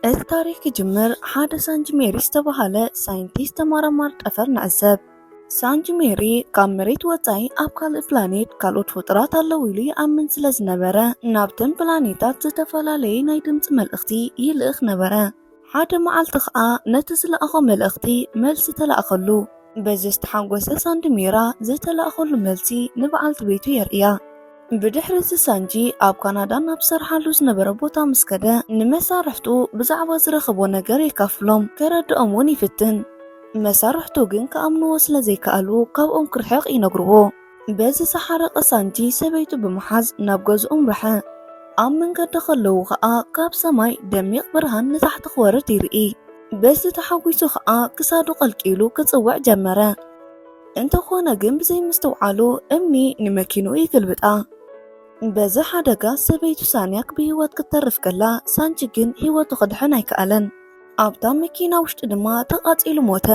እቲ ታሪኽ ክጅምር ሓደ ሳንጅ ሜሪ ዝተባህለ ሳይንቲስት ተመራማሪ ጠፈር ንዕዘብ። ሳንጅ ሜሪ ካብ መሬት ወጻኢ ኣብ ካልእ ፕላኔት ካልኦት ፍጡራት ኣለዉ ኢሉ ይኣምን ስለ ዝነበረ ናብተን ፕላኔታት ዝተፈላለየ ናይ ድምፂ መልእኽቲ ይልእኽ ነበረ። ሓደ መዓልቲ ከኣ ነቲ ዝለኣኾ መልእኽቲ መልሲ ተላእከሉ። በዚ ዝተሓጎሰ ሳንድ ሜራ ዝተላእከሉ መልሲ ንበዓልቲ ቤቱ የርእያ። ብድሕሪ እዚ ሳንጂ ኣብ ካናዳ ናብ ዝሰርሓሉ ዝነበረ ቦታ ምስ ከደ ንመሳርሕቱ ብዛዕባ ዝረኸቦ ነገር የካፍሎም፣ ከረድኦም እውን ይፍትን። መሳርሕቱ ግን ክኣምንዎ ስለ ዘይከኣሉ ካብኦም ክርሕቕ ይነግርዎ። በዚ ዝሓረቐ ሳንጂ ሰበይቱ ብምሓዝ ናብ ገዝኡ ኣምረሐ። ኣብ መንገዲ ከለዉ ከኣ ካብ ሰማይ ደሚቕ ብርሃን ንታሕቲ ክወርድ ይርኢ። በዚ ተሓጒሱ ከኣ ክሳዱ ቀልቂሉ ክጽውዕ ጀመረ። እንተኾነ ግን ብዘይምስትውዓሉ እምኒ ንመኪንኡ ይግልብጣ። በዚ ሓደጋ ሰበይቱ ሳንያክ ብህይወት ክትተርፍ ከላ፣ ሳንቺ ግን ህይወቱ ክድሕን ኣይከኣለን። ኣብታ መኪና ውሽጢ ድማ ተቓጺሉ ሞተ።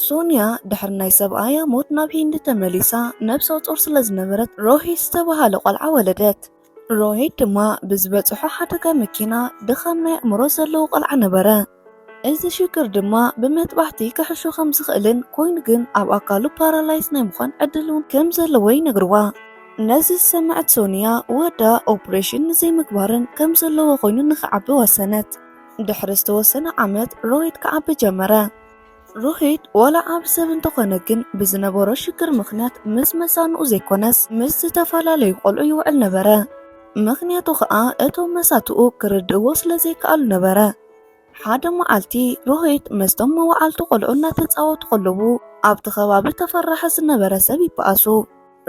ሶንያ ድሕሪ ናይ ሰብኣያ ሞት ናብ ሂንዲ ተመሊሳ ነብሰ ጾር ስለዝነበረት ሮሂት ዝተበሃለ ቆልዓ ወለደት። ሮሄድ ድማ ብዝበጽሖ ሓደጋ መኪና ድኻም ናይ ኣእምሮ ዘለዎ ቆልዓ ነበረ። እዚ ሽግር ድማ ብመጥባሕቲ ክሕሾ ከም ዝኽእልን ኮይኑ ግን ኣብ ኣካሉ ፓራላይዝ ናይ ምዃን ዕድል እውን ከም ዘለዎ ይነግርዋ። ነዚ ዝሰመዐት ሶንያ ወዳ ኦፕሬሽን ንዘይምግባርን ከም ዘለዎ ኮይኑ ንኽዓቢ ወሰነት። ድሕሪ ዝተወሰነ ዓመት ሮሄድ ክዓቢ ጀመረ። ሩሂት ዋላ ዓቢ ሰብ እንተኾነ ግን ብዝነበሮ ሽግር ምኽንያት ምስ መሳንኡ ዘይኮነስ ምስ ዝተፈላለዩ ቆልዑ ይውዕል ነበረ። ምኽንያቱ ከኣ እቶም መሳትኡ ክርድእዎ ስለ ዘይከኣሉ ነበረ። ሓደ መዓልቲ ሩሂት ምስቶም መዋዕልቱ ቆልዑ እናተጻወቱ ከለዉ ኣብቲ ከባቢ ተፈራሒ ዝነበረ ሰብ ይበኣሱ።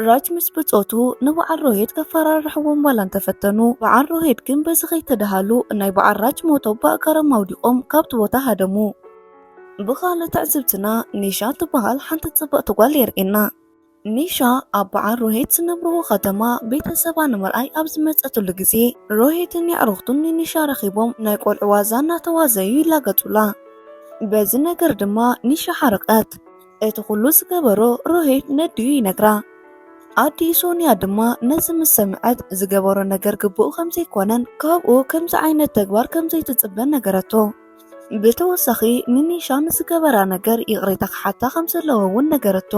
ራጅ ምስ ብጾቱ ንበዓል ሮሄድ ከፈራርሕዎም ዋላ እንተፈተኑ በዓል ሮሄድ ግን በዚ ከይተደሃሉ ናይ በዓል ራጅ ሞቶ ብኣእጋሮም ኣውዲቖም ካብቲ ቦታ ሃደሙ። ብኻልእ ትዕዝብትና ኒሻ ትበሃል ሓንቲ ጽብቕቲ ጓል የርእየና። ኒሻ ኣብ በዓል ሮሄድ ዝነብርዎ ከተማ ቤተሰባ ንምርኣይ ኣብ ዝመጸትሉ ግዜ ሮሄድን የዕሩኽቱን ንኒሻ ረኺቦም ናይ ቆልዑ ዋዛ እናተዋዘዩ ይላገጹላ። በዚ ነገር ድማ ኒሻ ሓረቐት። እቲ ኩሉ ዝገበሮ ሮሂት ነዲኡ ይነግራ። ኣዲኡ ሶንያ ድማ ነዚ ምስ ሰምዐት ዝገበሮ ነገር ግቡእ ከም ዘይኮነን ካብኡ ከምዚ ዓይነት ተግባር ከም ዘይትጽበን ነገረቶ። ብተወሳኺ ንኒሻ ንዝገበራ ነገር ይቕሬታ ክሓታ ከም ዘለዎ እውን ነገረቶ።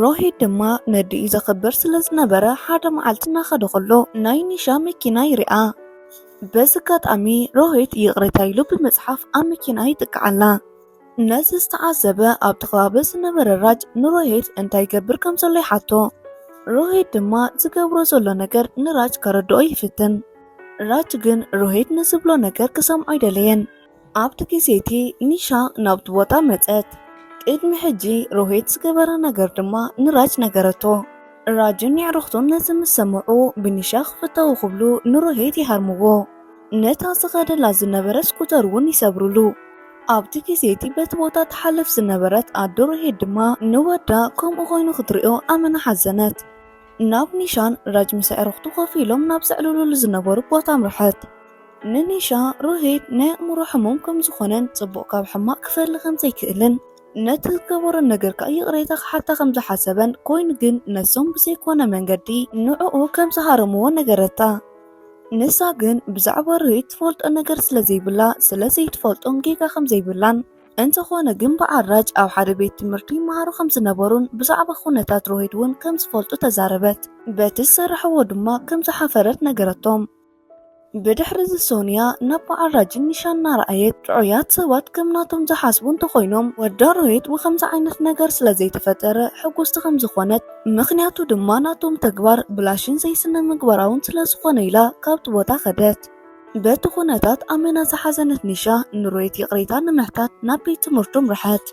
ሮሂት ድማ ነዲኡ ዘኽብር ስለ ዝነበረ ሓደ መዓልቲ እናኸደ ከሎ ናይ ኒሻ መኪና ይርኣ። በዚ ኣጋጣሚ ሮሂት ይቕሬታ ኢሉ ብምጽሓፍ ኣብ መኪንኣ ይጥቅዓላ። ነዚ ዝተዓዘበ ኣብቲ ከባቢ ዝነበረ ራጅ ንሮሄት እንታይ ይገብር ከም ዘሎ ይሓቶ ሮሄት ድማ ዝገብሮ ዘሎ ነገር ንራጅ ከረድኦ ይፍትን ራጅ ግን ሮሄት ንዝብሎ ነገር ክሰምዖ ኣይደለየን ኣብቲ ግዜ እቲ ኒሻ ናብቲ ቦታ መጸት ቅድሚ ሕጂ ሮሄት ዝገበረ ነገር ድማ ንራጅ ነገረቶ ራጅን የዕርኽቱን ነዚ ምስ ሰምዑ ብኒሻ ክፍተው ክብሉ ንሮሄት ይሃርምዎ ነታ ዝኸደላ ዝነበረ ስኩተር እውን ይሰብሩሉ። ኣብቲ ግዜ እቲ በቲ ቦታ ትሓልፍ ዝነበረት ኣዶ ርሄድ ድማ ንወዳ ከምኡ ኮይኑ ክትሪኦ ኣመና ሓዘነት። ናብ ኒሻን ራጅ ምስ ኣዕሩኽቱ ኮፍ ኢሎም ናብ ዘዕልሉሉ ዝነበሩ ቦታ ኣምርሐት። ንኒሻ ርሄድ ናይ ኣእምሮ ሕሙም ከም ዝኾነን ጽቡቕ ካብ ሕማቕ ክፈሊ ከም ዘይክእልን ነቲ ዝገበሮ ነገር ከኣ ይቕሬታ ክሓታ ከም ዝሓሰበን ኮይኑ ግን ነሶም ብዘይኮነ መንገዲ ንዕኡ ከም ዝሃረምዎ ነገረታ። ንሳ ግን ብዛዕባ ርህይ ትፈልጦ ነገር ስለ ዘይብላ ስለ ዘይትፈልጦን ጌጋ ከም ዘይብላን እንተኾነ ግን በዓል ራጅ ኣብ ሓደ ቤት ትምህርቲ ይመሃሩ ከም ዝነበሩን ብዛዕባ ኩነታት ሮሂት እውን ከም ዝፈልጡ ተዛረበት። በቲ ዝሰራሕዎ ድማ ከም ዝሓፈረት ነገረቶም። ብድሕሪ እዚ ሶንያ ናብ በዓል ራጅን ኒሻን እናረኣየት ጥዑያት ሰባት ከም ናቶም ዝሓስቡ እንተኾይኖም ወዳ ሮሂት ብከምዚ ዓይነት ነገር ስለ ዘይተፈጠረ ሕጉስቲ ከም ዝኾነት ምኽንያቱ ድማ ናቶም ተግባር ብላሽን ዘይስነምግባራውን ስለ ዝኾነ ኢላ ካብቲ ቦታ ከደት። በቲ ኩነታት ኣመና ዝሓዘነት ኒሻ ንሮየት ይቕሬታ ንምሕታት ናብ ቤት ትምህርቱ ኣምርሐት።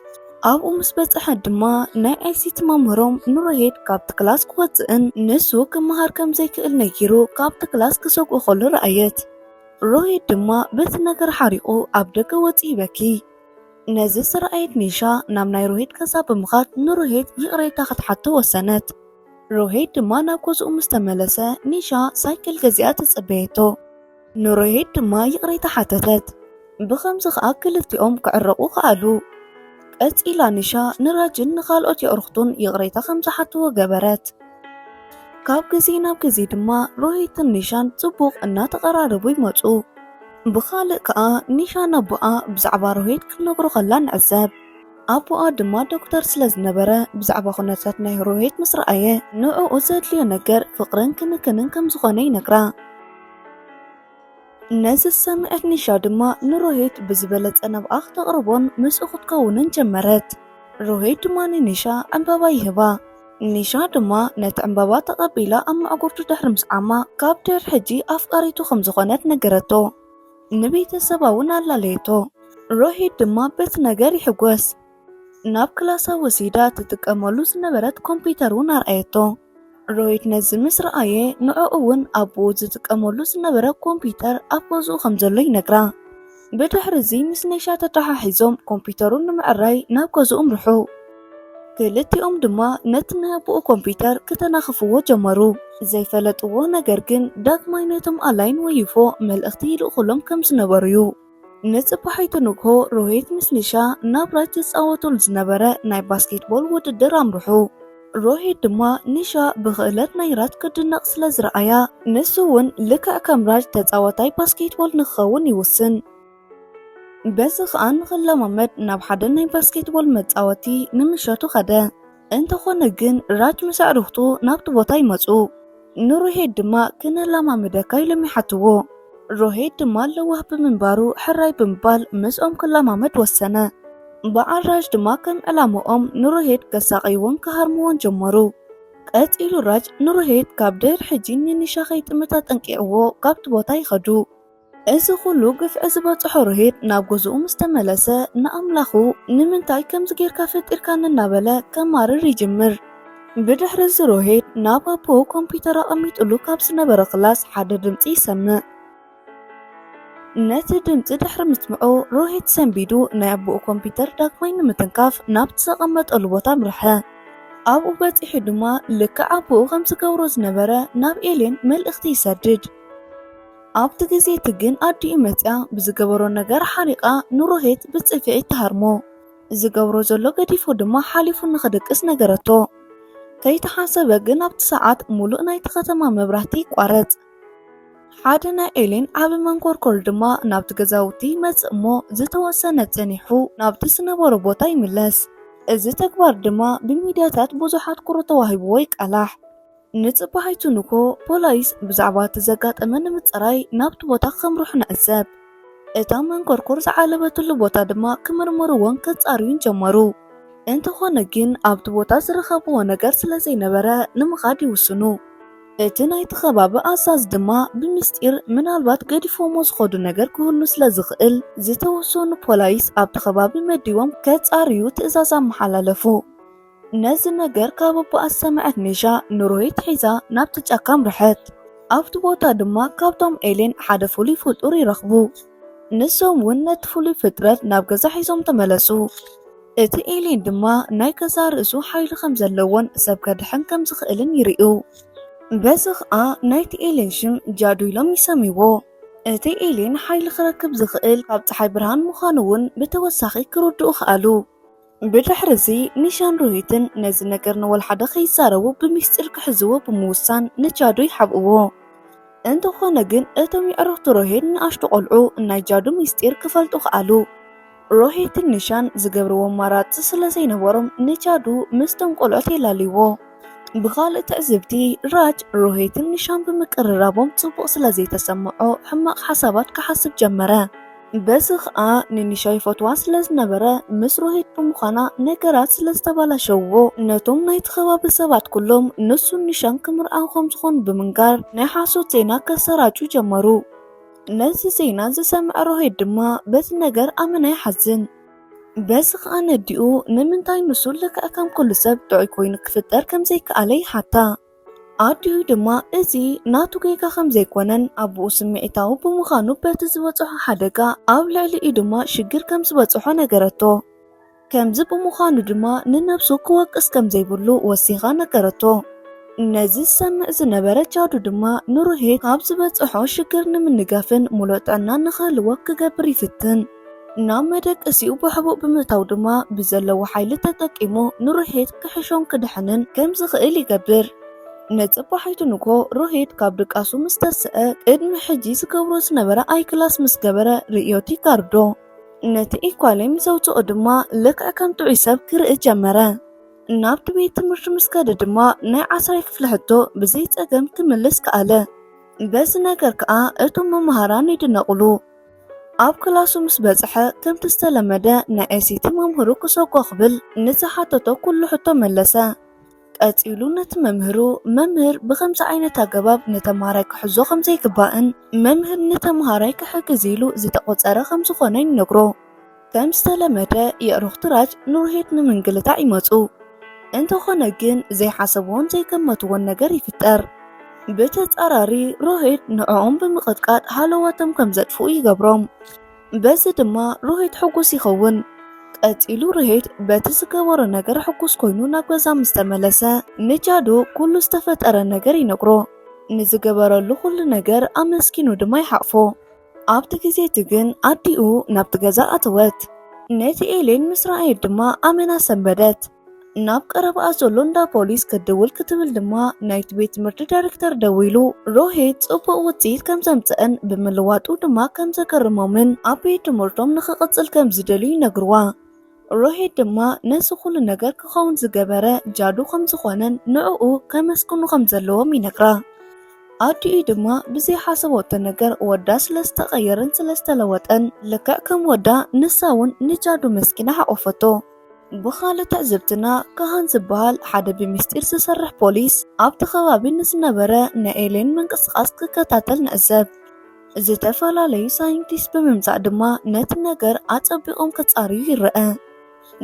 ኣብኡ ምስ በጽሐት ድማ ናይ ኣይሲቲ መምህሮም ንሮሄድ ካብቲ ክላስ ክወጽእን ንሱ ክመሃር ከም ዘይክእል ነጊሩ ካብቲ ክላስ ክሰግኦ ከሎ ረኣየት። ሮሄድ ድማ በቲ ነገር ሓሪቑ ኣብ ደገ ወጺኡ ይበኪ። ነዚ ዝረኣየት ኒሻ ናብ ናይ ሮሄድ ገዛ ብምኻድ ንሮሄድ ይቕሬታ ክትሓቶ ወሰነት። ሮሄድ ድማ ናብ ገዝኡ ምስ ተመለሰ ኒሻ ሳይክል ገዚኣ ተጸበየቶ። ንሮሄድ ድማ ይቕሬታ ሓተተት። ብኸምዚ ከኣ ክልቲኦም ክዕረቑ ከኣሉ። ቀጺላ ኒሻ ንራጅን ንኻልኦት የእርኽቱን ይቕሬታ ከም ዝሓትዎ ገበረት። ካብ ግዜ ናብ ግዜ ድማ ሮሄትን ኒሻን ጽቡቕ እናተቐራረቡ ይመጹ። ብኻልእ ከኣ ኒሻ ነቦኣ ብዛዕባ ሮሂት ክትነግሮ ከላ ንዕዘብ። ኣቦኣ ድማ ዶክተር ስለ ዝነበረ ብዛዕባ ኩነታት ናይ ሮሂት ምስ ረኣየ ንዕኡ ዘድልዮ ነገር ፍቕርን ክንክንን ከም ዝኾነ ይነግራ። ነዚ ዝሰምዐት ኒሻ ድማ ንሮሂት ብዝበለጸ ናብኣ ክተቕርቦን ምስኡ ክትከውንን ጀመረት። ሮሂት ድማ ንኒሻ ዕምባባ ይህባ። ኒሻ ድማ ነቲ ዕምባባ ተቐቢላ ኣብ ማዕጎርቱ ድሕሪ ምስዓማ ካብ ድሕሪ ሕጂ ኣፍቃሪቱ ከም ዝኾነት ነገረቶ። ንቤተሰባ እውን ኣላለየቶ። ሮሂት ድማ በቲ ነገር ይሕጎስ። ናብ ክላሳ ወሲዳ ትጥቀመሉ ዝነበረት ኮምፒተር እውን ኣርኣየቶ። ሮሂት ነዚ ምስ ረኣየ ንዕኡ እውን ኣቦኡ ዝጥቀመሉ ዝነበረ ኮምፒተር ኣብ ገዝኡ ከም ዘሎ ይነግራ። ብድሕርዚ ምስ ነሻ ተተሓሒዞም ኮምፒዩተሩ ንምዕራይ ናብ ገዝኡ ኣምርሑ። ክልቲኦም ድማ ነቲ ናይ ኣቦኡ ኮምፒዩተር ክተናኽፍዎ ጀመሩ። ዘይፈለጥዎ ነገር ግን ዳግማይ ነቶም ኣላይን ወይፎ መልእኽቲ ይልእኹሎም ከም ዝነበሩ'ዩ። ንጽባሒቱ ንግሆ ሮሂት ምስ ኒሻ ናብ ራጅ ዝጻወቱሉ ዝነበረ ናይ ባስኬትቦል ውድድር ኣምርሑ። ሮሂት ድማ ኒሻ ብኽእለት ናይ ራት ክትድነቕ ስለ ዝረኣያ፣ ንሱ እውን ልክዕ ከም ራጅ ተጻዋታይ ባስኬትቦል ንኽኸውን ይውስን። በዚ ኸኣ ንኽለማመድ ናብ ሓደ ናይ ባስኬትቦል መጻወቲ ንምሸቱ ኸደ። እንተዀነ ግን ራጅ ምስ ኣዕሩኽቱ ናብቲ ቦታ ይመጹ። ንሮሄድ ድማ ክነላማምደካ ኢሎም ይሓትዎ። ሮሄድ ድማ ለዋህ ብምንባሩ ሕራይ ብምባል ምስኦም ክላማመድ ወሰነ። በዓል ራጅ ድማ ከም ዕላምኦም ንሮሄድ ከሳቐይዎን ክሃርምዎን ጀመሩ። ቀጺሉ ራጅ ንሮሄድ ካብ ድር ሕጂ ንኒሻ ከይጥምት ኣጠንቂቕዎ ካብቲ ቦታ ይኸዱ። እዚ ኹሉ ግፍዒ ዝበፅሖ ሮሄድ ናብ ገዝኡ ምስ ተመለሰ ንኣምላኹ ንምንታይ ከምዚ ጌርካ ፈጢርካኒ እናበለ ከማርር ይጅምር። ብድሕሪ እዚ ሮሄድ ናብ ኣቦኡ ኮምፒዩተር ኣቐሚጥሉ ካብ ዝነበረ ክላስ ሓደ ድምፂ ይሰምዕ። ነቲ ድምፂ ድሕሪ ምስምዑ ሮሄድ ሰንቢዱ ናይ ኣቦኡ ኮምፒዩተር ዳግማይ ንምትንካፍ ናብቲ ዘቐመጠሉ ቦታ ኣምርሐ። ኣብኡ በፂሑ ድማ ልክዕ ኣቦኡ ከም ዝገብሮ ዝነበረ ናብ ኤሌን መልእኽቲ ይሰድድ። ኣብቲ ግዜ እቲ ግን ኣዲኡ መጺኣ ብዝገበሮ ነገር ሓሪቓ ንሮሄት ብጽፍዒት ትሃርሞ። ዝገብሮ ዘሎ ገዲፎ ድማ ሓሊፉ ንኽድቅስ ነገረቶ። ከይተሓሰበ ግን ኣብቲ ሰዓት ሙሉእ ናይቲ ከተማ መብራህቲ ይቋረጽ። ሓደ ናይ ኤሌን ዓቢ መንኮርኮር ድማ ናብቲ ገዛውቲ ይመጽእ እሞ ዝተወሰነ ጸኒሑ ናብቲ ዝነበሮ ቦታ ይምለስ። እዚ ተግባር ድማ ብሚድያታት ብዙሓት ኩሩ ተዋሂብዎ ይቃላሕ። ንጽባሒቱ ንግሆ፣ ፖላይስ ብዛዕባ እቲ ዘጋጠመ ንምጽራይ ናብቲ ቦታ ከምርሑ ንዕዘብ። እታ መንኮርኮር ዝዓለበትሉ ቦታ ድማ ክምርምርዎን ከጻርዩን ጀመሩ። እንተኾነ ግን ኣብቲ ቦታ ዝረኸብዎ ነገር ስለ ዘይነበረ ንምኻድ ይውስኑ። እቲ ናይቲ ከባቢ ኣዛዚ ድማ ብሚስጢር ምናልባት ገዲፎሞ ዝኸዱ ነገር ክህሉ ስለ ዝኽእል ዝተወሰኑ ፖላይስ ኣብቲ ከባቢ መዲቦም ከጻርዩ ትእዛዝ ኣመሓላለፉ። ነዚ ነገር ካብ ኣቦኣ ዝሰምዐት ሜሻ ንሮሂት ሒዛ ናብቲ ጫካ ኣምርሐት። ኣብቲ ቦታ ድማ ካብቶም ኤሌን ሓደ ፍሉይ ፍጡር ይረኽቡ። ንሶም እውን ነቲ ፍሉይ ፍጥረት ናብ ገዛ ሒዞም ተመለሱ። እቲ ኤሌን ድማ ናይ ገዛእ ርእሱ ሓይሊ ከም ዘለዎን ሰብ ከድሕን ከም ዝኽእልን ይርእዩ። በዚ ኸኣ ናይቲ ኤሌን ሽም ጃዱ ኢሎም ይሰምይዎ። እቲ ኤሌን ሓይሊ ክረክብ ዝኽእል ካብ ጸሓይ ብርሃን ምዃኑ እውን ብተወሳኺ ክርድኡ ከኣሉ። ብድሕሪ እዚ ኒሻን ሩሂትን ነዚ ነገር ንወልሓደ ከይዛረቡ ብሚስጢር ክሕዝዎ ብምውሳን ንጃዱ ይሓብእዎ። እንተኾነ ግን እቶም የዕሩኽቲ ሮሄት ንኣሽቱ ቆልዑ ናይ ጃዱ ሚስጢር ክፈልጡ ከኣሉ። ሮሄትን ኒሻን ዝገብርዎ ኣማራጺ ስለዘይነበሮም ንጃዱ ምስቶም ቆልዑት የላልይዎ። ብኻልእ ትዕዝብቲ ራጅ ሮሄትን ኒሻን ብምቅርራቦም ጽቡቕ ስለ ዘይተሰምዖ ሕማቕ ሓሳባት ክሓስብ ጀመረ። በዚ ኸኣ ንኒሻ ይፈትዋ ስለ ዝነበረ ምስ ሮሄት ብምዃና ነገራት ስለ ዝተባላሸውዎ ነቶም ናይቲ ከባቢ ሰባት ኩሎም ንሱን ኒሻን ክምርዓው ከም ዝኾኑ ብምንጋር ናይ ሓሶት ዜና ከሰራጩ ጀመሩ። ነዚ ዜና ዝሰምዐ ሮሄት ድማ በዚ ነገር ኣመና ይሓዝን። በዚ ኸኣ ነዲኡ ንምንታይ ንሱ ልክዕ ከም ኩሉ ሰብ ጥዑይ ኮይኑ ክፍጠር ከም ዘይከኣለ ይሓታ። ኣዲኡ ድማ እዚ ናቱ ጌጋ ከም ዘይኮነን ኣቡኡ ስምዒታዊ ብምዃኑ በቲ ዝበጽሖ ሓደጋ ኣብ ልዕሊኡ ድማ ሽግር ከም ዝበጽሖ ነገረቶ። ከምዚ ብምዃኑ ድማ ንነብሱ ክወቅስ ከም ዘይብሉ ወሲኻ ነገረቶ። ነዚ ዝሰምዕ ዝነበረ ጃዱ ድማ ንሩሄ ካብ ዝበጽሖ ሽግር ንምንጋፍን ምሉእ ጥዕናን ንኽህልዎ ክገብር ይፍትን። ናብ መደቀሲኡ ብሕቡእ ብምእታው ድማ ብዘለዎ ሓይሊ ተጠቂሙ ንሮሄት ክሕሾን ክድሕንን ከም ዝኽእል ይገብር። ንጽባሒቱ ንግሆ ሮሄት ካብ ድቃሱ ምስ ተሰኣ ቅድሚ ሕጂ ዝገብሮ ዝነበረ ኣይክላስ ምስ ገበረ ርእዮ እቲ ጋርዶ ነቲ ኢኳሌ ምስ ኣውጽኦ ድማ ልክዕ ከም ጥዑይ ሰብ ክርኢ ጀመረ። ናብቲ ቤት ትምህርቲ ምስ ከደ ድማ ናይ ዓስራይ ክፍሊ ሕቶ ብዘይ ጸገም ክምልስ ከኣለ። በዚ ነገር ከኣ እቶም መማህራን ይድነቑሉ። ኣብ ክላሱ ምስ በጽሐ ከምቲ ዝተለመደ ንኤሲቲ መምህሩ ክሰጎ ክብል ንዝሓተቶ ኩሉ ሕቶ መለሰ። ቀጺሉ ነቲ መምህሩ መምህር ብከምዚ ዓይነት ኣገባብ ንተምሃራይ ክሕዞ ከም ዘይግባእን መምህር ንተምሃራይ ክሕግዝ ኢሉ ዝተቖጸረ ከም ዝኾነን ይነግሮ። ከም ዝተለመደ የእሩኽቲ ራጅ ኑርሄት ንምንግልታዕ ይመጹ። እንተኾነ ግን ዘይሓሰብዎን ዘይገመትዎን ነገር ይፍጠር። ብተጻራሪ ሮሄት ንዕኦም ብምቕጥቃጥ ሃለዋቶም ከም ዘጥፍኡ ይገብሮም። በዚ ድማ ሮሄት ሕጉስ ይኸውን። ቀጺሉ ርሄድ በቲ ዝገበሮ ነገር ሕጉስ ኮይኑ ናብ ገዛ ምስ ተመለሰ ንጃዱ ኩሉ ዝተፈጠረ ነገር ይነግሮ። ንዝገበረሉ ኩሉ ነገር ኣመስኪኑ ድማ ይሓቕፎ። ኣብቲ ግዜ እቲ ግን ኣዲኡ ናብቲ ገዛ ኣተወት። ነቲ ኤሌን ምስ ረኣየት ድማ ኣመና ሰንበደት። ናብ ቀረባኣ ዘሎ እንዳ ፖሊስ ክትድውል ክትብል ድማ ናይቲ ቤት ትምህርቲ ዳይሬክተር ደዊሉ ሮሄት ጽቡቕ ውጽኢት ከም ዘምጽእን ብምልዋጡ ድማ ከም ዘገርሞምን ኣብ ቤት ትምህርቶም ንኽቕጽል ከም ዝደልዩ ይነግርዋ። ሮሄድ ድማ ነዚ ኹሉ ነገር ክኸውን ዝገበረ ጃዱ ከም ዝኾነን ንዕኡ ከመስግኑ ከም ዘለዎም ይነግራ። ኣዲኡ ድማ ብዘይሓሰበቶ ነገር ወዳ ስለ ዝተቐየረን ስለ ዝተለወጠን ልክዕ ከም ወዳ ንሳ እውን ንጃዱ መስኪና ሓቖፈቶ። ብኻልእ ትዕዝብትና ካሃን ዝበሃል ሓደ ብምስጢር ዝሰርሕ ፖሊስ ኣብቲ ከባቢ ንዝነበረ ናይ ኤሌን ምንቅስቓስ ክከታተል ንዕዘብ። ዝተፈላለዩ ሳይንቲስት ብምምጻእ ድማ ነቲ ነገር ኣጸቢቖም ክጻርዩ ይረኣ።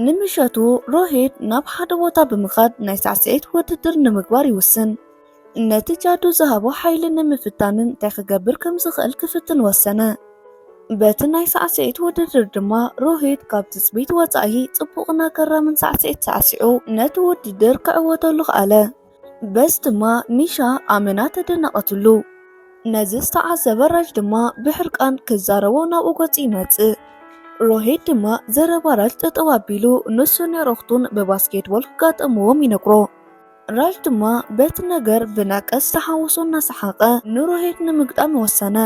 ንምሸቱ ሮሄድ ናብ ሓደ ቦታ ብምኻድ ናይ ሳዕስዒት ውድድር ንምግባር ይውስን። ነቲ ጃዱ ዝሃቦ ሓይሊ ንምፍታንን እንታይ ክገብር ከም ዝኽእል ክፍትን ወሰነ። በቲ ናይ ሳዕስዒት ውድድር ድማ ሮሂት ካብ ትጽቢት ወጻኢ ጽቡቕን ኣገራምን ሳዕስዒት ሳዕሲዑ ነቲ ውድድር ክዕወተሉ ከኣለ። በዝ ድማ ሚሻ ኣመና ተደነቐትሉ። ነዚ ዝተዓዘበ ራጅ ድማ ብሕርቃን ክዛረቦ ናብኡ ገጹ ይመጽእ። ሮሂት ድማ ዘረባ ራጅ ጠጠው ኣቢሉ ንሱ ንዕሩኽቱን ብባስኬትቦል ክጋጠምዎም ይነግሮ። ራጅ ድማ በቲ ነገር ብነቀስ ተሓውሶ እናሰሓቐ ንሮሂት ንምግጣም ወሰነ።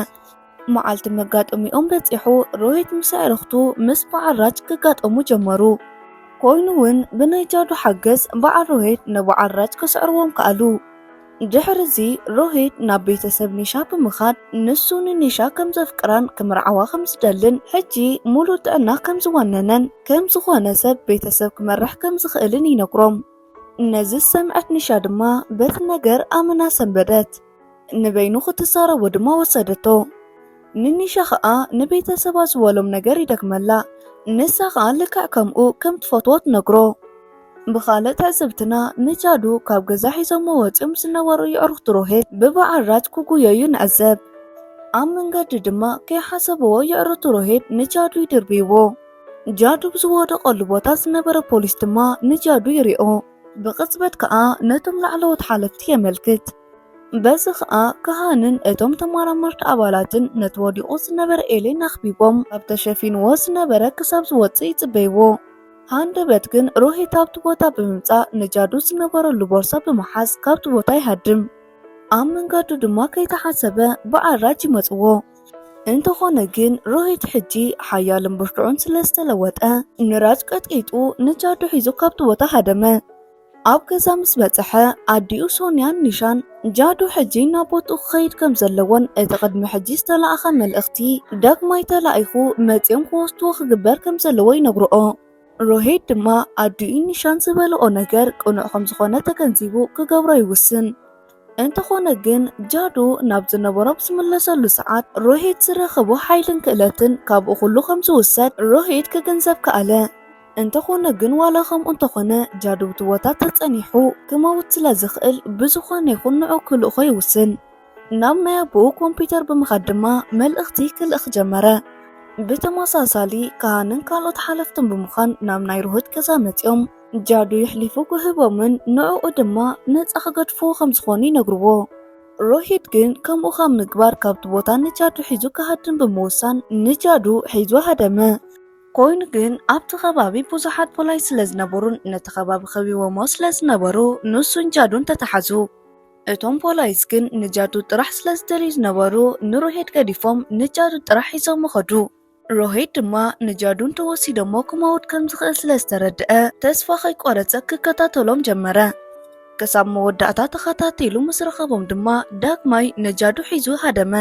መዓልቲ መጋጠሚኦም በጺሑ ሮሂት ምስ ኣዕርኽቱ ምስ በዓል ራጅ ክጋጠሙ ጀመሩ። ኮይኑ እውን ብናይ ጃዱ ሓገዝ በዓል ሮሂት ንበዓል ራጅ ክስዕርዎም ከኣሉ። ድሕሪ እዚ ሮሂት ናብ ቤተሰብ ኒሻ ብምኻድ ንሱ ንኒሻ ከም ዘፍቅራን ክምርዓዋ ከም ዝደልን ሕጂ ሙሉእ ጥዕና ከም ዝወነነን ከም ዝኾነ ሰብ ቤተሰብ ክመርሕ ከም ዝኽእልን ይነግሮም። ነዚ ዝሰምዐት ኒሻ ድማ በቲ ነገር ኣመና ሰንበደት። ንበይኑ ክትዛረቦ ድማ ወሰደቶ። ንኒሻ ኸኣ ንቤተሰባ ዝበሎም ነገር ይደግመላ፣ ንሳ ኸኣ ልክዕ ከምኡ ከም ትፈትዎ ትነግሮ። ብኻልእ ትዕዝብትና ንጃዱ ካብ ገዛ ሒዞሞ ወጺኦም ዝነበሩ የዕሩኽቲ ሮሄት ብበዓል ራጅ ክጉየዩ ንዕዘብ። ኣብ መንገዲ ድማ ከይሓሰብዎ የዕሩኽቲ ሮሄት ንጃዱ ይድርብይዎ። ጃዱ ብዝወደቐሉ ቦታ ዝነበረ ፖሊስ ድማ ንጃዱ ይሪኦ። ብቕጽበት ከኣ ነቶም ላዕለዎት ሓለፍቲ የመልክት። በዚ ኸኣ ክሃንን እቶም ተመራመርቲ ኣባላትን ነቲ ወዲቑ ዝነበረ ኤሌን ኣኽቢቦም ካብ ተሸፊንዎ ዝነበረ ክሳብ ዝወጽእ ይጽበይዎ። ሃንደበት ግን ሮሂት ኣብቲ ቦታ ብምምጻእ ንጃዱ ዝነበረሉ ቦርሳ ብምሓዝ ካብቲ ቦታ ይሃድም። ኣብ መንገዱ ድማ ከይተሓሰበ ብኣራጅ ይመጽዎ። እንተኾነ ግን ሮሂት ሕጂ ሓያልን ብርቱዕን ስለ ዝተለወጠ ንራጅ ቀጥቂጡ ንጃዱ ሒዙ ካብቲ ቦታ ሃደመ። ኣብ ገዛ ምስ በጽሐ ኣዲኡ ሶንያን ኒሻን ጃዱ ሕጂ ናብ ቦትኡ ክኸይድ ከም ዘለዎን እቲ ቅድሚ ሕጂ ዝተላእኸ መልእኽቲ ዳግማይ ተላኢኹ መጺኦም ክወስድዎ ክግበር ከም ዘለዎ ይነግርኦ። ሮሂት ድማ ኣዲኡ ኒሻን ዝበልኦ ነገር ቅኑዕ ከም ዝኾነ ተገንዚቡ ክገብሮ ይውስን። እንተኾነ ግን ጃዶ ናብ ዝነበሮ ኣብ ዝምለሰሉ ሰዓት ሮሂት ዝረኸቦ ሓይልን ክእለትን ካብኡ ኩሉ ከም ዝውሰድ ሮሂት ክግንዘብ ከኣለ። እንተኾነ ግን ዋላ ከምኡ እንተኾነ ጃዶ ኣብቲ ቦታ ተጸኒሑ ክመውት ስለ ዝኽእል ብዝኾነ ይኹን ንዕኡ ክልእኾ ይውስን። ናብ ናይ ኣቦኡ ኮምፒተር ብምኻድ ድማ መልእኽቲ ክልእኽ ጀመረ። ብተመሳሳሊ ካሃንን ካልኦት ሓለፍትን ብምዃን ናብ ናይ ሮሂት ገዛ መጺኦም። ጃዱ የሕሊፉ ክህቦምን ንዕኡ ድማ ነፃ ክገድፍዎ ከም ዝኾኑ ይነግርዎ። ሮሂት ግን ከምኡ ካብ ምግባር ካብቲ ቦታ ንጃዱ ሒዙ ክሃድም ብምውሳን ንጃዱ ሒዙ ሃደመ። ኮይኑ ግን ኣብቲ ከባቢ ብዙሓት ፖላይስ ስለ ዝነበሩን ነቲ ከባቢ ከቢቦሞ ስለ ዝነበሩ ንሱን ጃዱን ተታሓዙ። እቶም ፖላይስ ግን ንጃዱ ጥራሕ ስለ ዝደልዩ ዝነበሩ ንሮሂት ገዲፎም ንጃዱ ጥራሕ ሒዞሞ ከዱ። ሮሄድ ድማ ንጃዱ እንተወሲዶሞ ክመውት ከም ዝኽእል ስለ ዝተረድአ ተስፋ ከይቆረጸ ክከታተሎም ጀመረ። ክሳብ መወዳእታ ተኸታቲሉ ምስ ረኸቦም ድማ ዳግማይ ንጃዱ ሒዙ ሃደመ።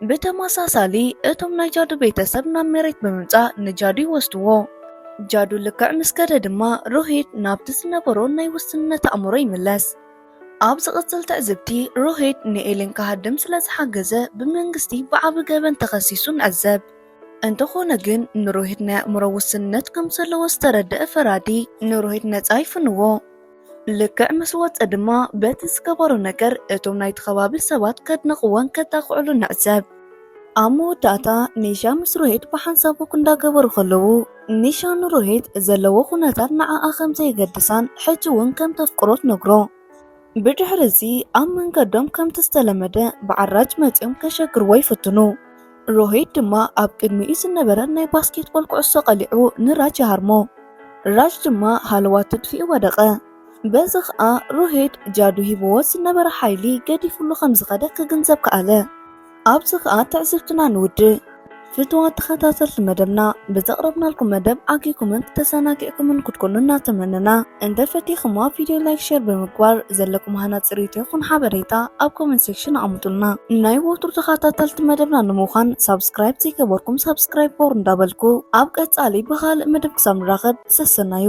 ብተመሳሳሊ እቶም ናይ ጃዱ ቤተሰብ ናብ መሬት ብምምጻእ ንጃዱ ይወስድዎ። ጃዱ ልክዕ ምስ ከደ ድማ ሮሄድ ናብቲ ዝነበሮ ናይ ውስንነት ኣእምሮ ይምለስ። ኣብ ዝቕጽል ትዕዝብቲ፣ ሮሄድ ንኤለን ክሃድም ስለ ዝሓገዘ ብመንግስቲ ብዓቢ ገበን ተኸሲሱ ንዕዘብ። እንተኾነ ግን ንሮሄድ ናይ ኣእምሮ ውስንነት ከም ዘለዎ ዝተረደኣ ፈራዲ ንሮሄድ ነጻ ይፍንዎ። ልክዕ ምስ ወጸ ድማ በቲ ዝገበሮ ነገር እቶም ናይቲ ከባቢ ሰባት ከድንቕዎን ከጣቕዕሉን ንዕዘብ። ኣብ መወዳእታ ኒሻ ምስ ሮሄት ብሓንሳብ ወክ እንዳገበሩ ከለዉ ኒሻ ንሮሄት ዘለዎ ኩነታት ንዓኣ ከም ዘየገድሳን ሕጂ እውን ከም ተፍቅሮ ትነግሮ። ብድሕሪ እዚ ኣብ መንገዶም ከምቲ ዝተለመደ ብዓራጅ መጺኦም ከሸግርዎ ይፍትኑ። ሮሄት ድማ ኣብ ቅድሚኡ ዝነበረ ናይ ባስኬትቦል ኩዕሶ ቀሊዑ ንራጅ ይሃርሞ። ራጅ ድማ ሃለዋት ትድፊኡ ወደቐ። በዚ ኸኣ ሮሄት ጃዱ ሂብዎ ዝነበረ ሓይሊ ገዲፍሉ ከም ዝኸደ ክግንዘብ ከኣለ። ኣብዚ ከኣ ትዕዝብትና ንውድእ። ፍትዋት ተኸታተልቲ መደብና ብዘቕረብናልኩም መደብ ዓጊኩምን ተዘናጊዕኩምን ክትኮኑ እናተመነና እንተ ፈቲኹማ ቪድዮ ላይክ ሼር ብምግባር ዘለኩም ሃናጺ ርእይቶ ይኹን ሓበሬታ ኣብ ኮመንት ሴክሽን ኣቕምጡልና። ናይ ወትሩ ተኸታተልቲ መደብና ንምዃን ሳብስክራይብ ዘይገበርኩም ሳብስክራይብ ግበሩ እንዳበልኩ ኣብ ቀጻሊ ብኻልእ መደብ ክሳብ ንራኸብ ሰሰናዩ።